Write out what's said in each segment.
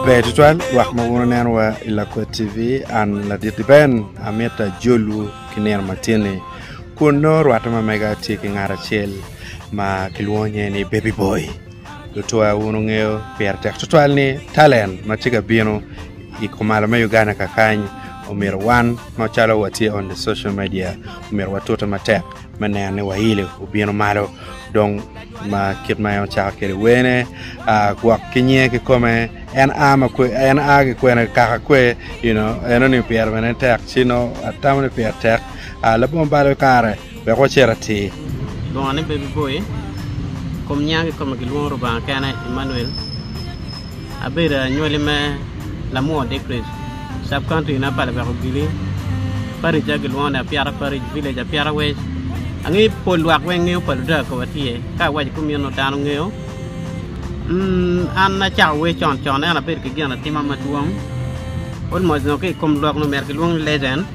Ber tutwal lwak ma wun oneno wa i Lakwe TV an ladit i Ben amit ajolu ki nino ma tye ni kun nongo rwate ma mega tye ki ngat acel ma ki lwongo nge ni Baby Boy. Lutwa wun wungeyo pire tek tutwal ni talent ma tye ka bino i kumalo me Uganda kakany omyero wan macalo watye on the social media omyero watute matek me neno ni wailo obino malo dong ma kit ma en ocako kwede wene gwok ki nyinge kikome en a ma kwe en a ki kwene kaka kwe you know enoni pire bene tek ci nongo atamo ni pire tek labongo balo kare wek wacit atir. Bongone pe biboyo. Kom nyang ki kome gilwongo Rubanga kene, Emmanuel. Abedo anywali me Lamwo Dickridge, Sub-County na pa Lubeko Giri. Parija gilwongo ni Apiata Parish, Village Apiata West. Angeyo pol lwak weng ngeyo pa Ludaga koba tye, ka awaco kumeno dano ngeyo. An acako wer con con ento abedo ki ginatima madwong, almost nongo ki i kom lok nongo omyero gilwong ni legend.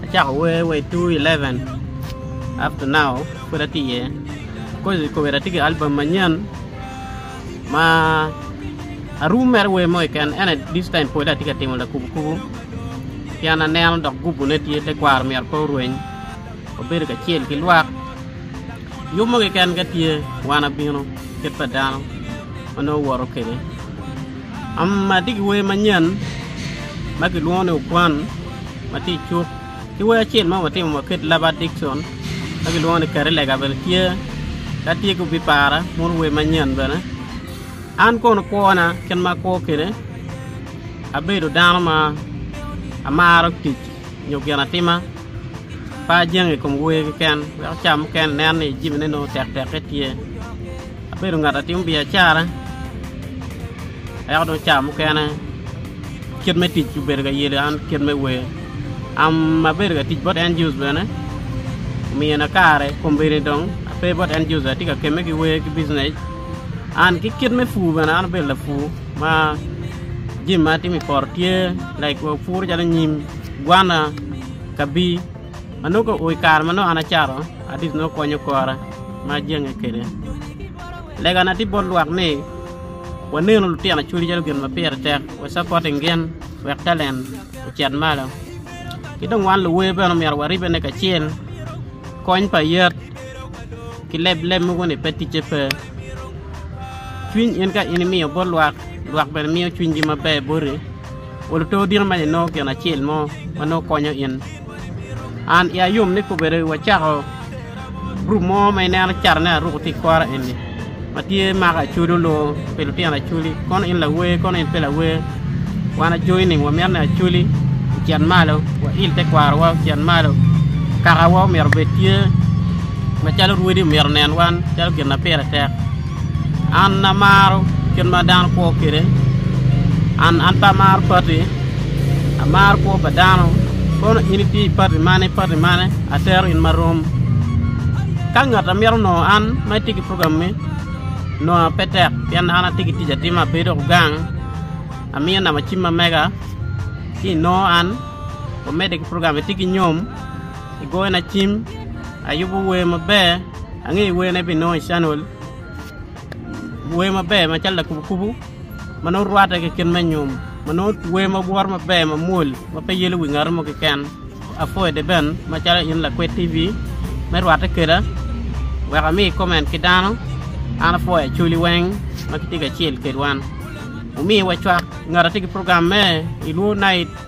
Acako wer wa i 2011 up to now pud atye iye coz kobedo atye ki album manyen ma arum mere wer mo keken ene this time pole atye ka timo lakubo kubo pien aneno dok gubone tye tekwaro myero pe orweny wabedo kacel ki lwak yub mo keken ka tye wan abino kit pa dano ma nongo woto kwede. Amatye ki wer manyen ma kilwongo ni Okwan ma tye i cuk ki wer acel ma watimo ma Kate Lovett Dickson ma kilwongo ni Kare Lega bene tye. Ka tye ka bipara mono wer manyen bene. An kono kwona kit ma akwo kwede abedo dano ma amaro tic nyo ginatima pe ajango i kom wer keken wek ca mukene inen ni jami ne tektekke tye. Abedo ngat a timo biacara, ento dong ca mukene kit me tic obedo ka yelo an kit me wer. Abedo ka tic bot NGOs bene, omiyo na kare kombeddi dong ape bot NGOs atye ka kemme ki wer ki bijinec. An ki kit me pur bene an abedo lapur ma jami ma atimo i poto tye like puro calo nyim, gwana, kabir. Ma nongo ka ur i kare ma nongo an acato, Adis nongo kwonyo kora ma ajenge kwede. Legana tye bot lwak ni wanenu lutino acwali calo gin ma pire tek wacapoting gin wek talent ocit malo. Ki dong wan luwer bene omyero waribene kacel kony pa yat ki lebleb mogo ni pe ticce pe. Cwiny in ka in imiyo bot lwak, lwak bene miyo cwinygi maber boti. Waluto odito ma inongo gin acel mo ma nongo konyo in. An iya yom ni kobedo wacako gurup mo ma ineno carone aruko tye i kora eni ma tye mako acwali onongo pi lutino acwali kono in lawer kono in pe lawer wan ajoi ni wamito ni acwali ocit malo wail tekwarowa ocit malo kakawa omyero obed tye macalo rwodi omyero onen wan calo gin ma pire tek. An amaro kit ma dano kwo kwede, an pe amaro pati, amaro kwo pa dano. Kono in itye i pati mane, pati mane, atero in marom. Ka ngat a mito nongo an ma itye ki programmi, nonga pe tek pien an atye ki tic atima, ape dok gang, amiyo namba cim ma mega ci inongo an, wamedde ki program, itye ki nyom? igona cim, ayubo wer maber, angeyo wer ma ibinongo i canial, wer maber macalo lakubo kubo ma nongo rwatte ki kit me nyom ma nongo wer ma woto maber mamwol ma pe yelo wi ngat mo keken, apwoyo Deben macalo in lakwed TV me rwatte keda wek ami comment ki dano, an apwoyo Acholi weng ma kitye kacel kedwa, wumiwa cwak ngat atye ki program me i Luo night.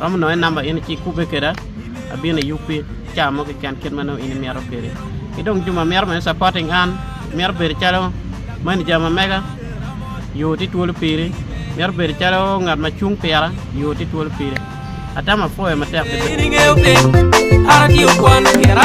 Romo nongo en namba in ci ikubbe keda abino iyubbi caa mo keken kit ma nongo in imito kedi. Ki dong juma mito bene supporting an mito bedo calo manager ma mega yo ti twolo piri mito bedo calo ngat ma cung pira yo ti twolo piri atamo apwoyo matek Ber ni ingeyo piny an atye okwano kera